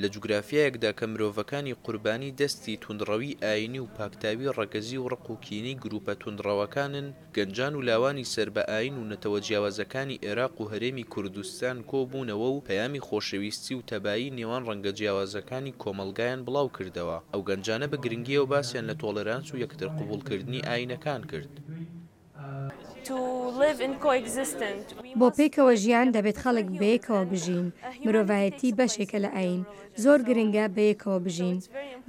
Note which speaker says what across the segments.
Speaker 1: لە جوگرافیایەکدا کە مرۆڤەکانی قوربانی دەستی توندڕەوی ئایینی و پاکتاوی ڕەگەزی و ڕق و کینەی گرووپە توندڕەوەکانن، گەنجان و لاوانی سەر بە ئایین و نەتەوە جیاوازەکانی ئێراق و هەرێمی کوردستان کۆ بوونەوە و پەیامی خۆشەویستی و تەبایی نێوان ڕەنگە جیاوازەکانی کۆمەڵگایان بڵاو کردەوە. ئەو گەنجانە بە گرنگییەوە باسیان لە تۆڵێرانس و یەکتر قبووڵ کردنی ئایینەکان کرد.
Speaker 2: بۆ پێکەوە ژیان دەبێت خەڵک بەیەکەوە بژین، مرۆڤایەتی بەشێکە لە ئایین، زۆر گرنگە بەیەکەوە بژین.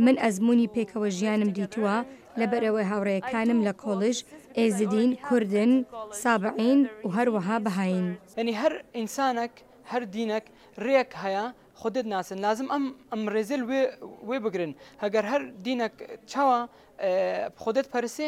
Speaker 2: من ئەزموونی پێکەوە ژیانم دیتووە، لەبەرئەوەی هاوڕێیەکانم لە کۆڵیژ ئێزدین، کوردن، سابعین و هەروەها بەهایین. یەنی هەر
Speaker 3: ئینسانەک، هەر دینەک رێک هەیە خۆ دێت ناسن، لازم ئەم ئەم رێزێل وێ وێ بگرن، هەگەر هەر دینەک چاوا خۆ دێت پەرسێ،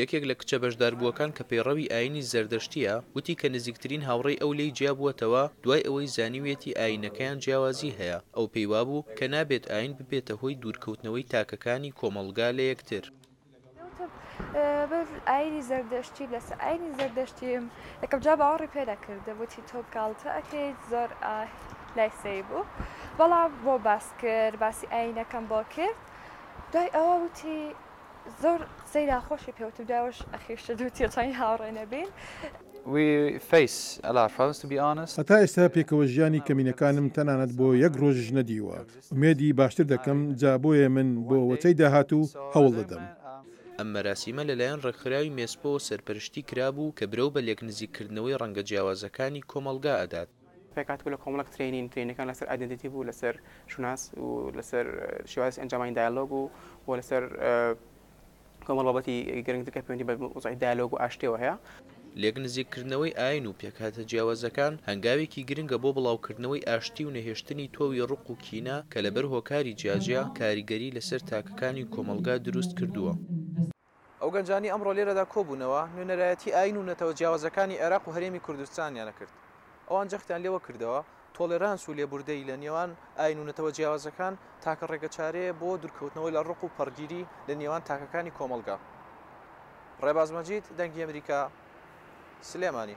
Speaker 3: یەکێک لە
Speaker 1: کچە بەشداربووەکان کە پەیڕەوی ئایینی زەردەشتییە، وتی کە نزیکترین هاوڕێی ئەو لێی جیابووەتەوە، دوای ئەوەی زانیویەتی ئایینەکەیان جیاوازی هەیە، ئەو پێی وابوو کە نابێت ئایین ببێتە هۆی دوورکەوتنەوەی تاکەکانی کۆمەڵگا لە یەکتر. وتم بەس
Speaker 4: ئایینی زەردەشتی، لەسەر ئایینی زەردەشتیم، یەکەم جار باوەڕی پێ نەکردم، وتی تۆ گاڵتە ئەکەیت، زۆر لای سەیر بوو، بەڵام بۆم باس کرد، باسی ئایینەکەم بۆ کرد، دوای ئەوە وتی زۆر قسەی ناخۆشی پێ وتم دوای ئەوەش ئەخیر شت و تێچووی هاوڕێ نەبین. We face a lot of
Speaker 5: problems to be honest. هەتا ئێستا پێکەوە ژیانی کەمینەکانم تەنانەت بۆ یەک ڕۆژیش نەدیوە ئومێدی باشتر دەکەم جا بۆیە من بۆ وەچەی داهاتوو هەوڵ دەدەم. ئەم مەراسیمە
Speaker 1: لەلایەن ڕێکخراوی مێسپۆوە سەرپەرشتی کرابوو کە برەو بە لێکنزیککردنەوەی ڕەنگە جیاوازەکانی کۆمەڵگا ئەدات. رێکهاتبوو لە کۆمەڵێک
Speaker 6: ترەینین، ترەینینەکان لەسەر ئایدێنتیتی بوو، لەسەر شوناس و لەسەر شێوازی ئەنجامانی دایەلۆگ و و لەسەر کۆمەڵ بابەتی گرنگتر کە پەیوەندی بە وەزعی دایەلۆگ و ئاشتیەوە هەیە. لێک
Speaker 1: نزیککردنەوەی ئایین و پێکهاتە جیاوازەکان هەنگاوێکی گرنگە بۆ بڵاوکردنەوەی ئاشتی و نەهێشتنی تۆوی ڕق و کینە کە لەبەر هۆکاری جیاجیا کاریگەری لەسەر تاکەکانی کۆمەڵگا دروست کردووە. ئەو
Speaker 7: گەنجانەی ئەمڕۆ لێرەدا کۆبوونەوە، نوێنەرایەتی ئایین و نەتەوە جیاوازەکانی عێراق و هەرێمی کوردستانیان ئەکرد. ئەوان جەختیان لەوە کردەوە، تۆڵێرانس و لێبوردەیی لە نێوان ئایین و نەتەوە جیاوازەکان تاکە ڕێگەچارەیە بۆ دوورکەوتنەوە لە ڕق و پەڕگیری لە نێوان تاکەکانی کۆمەڵگا. ڕێباز مەجید، دەنگی ئەمریکا، سلێمانی.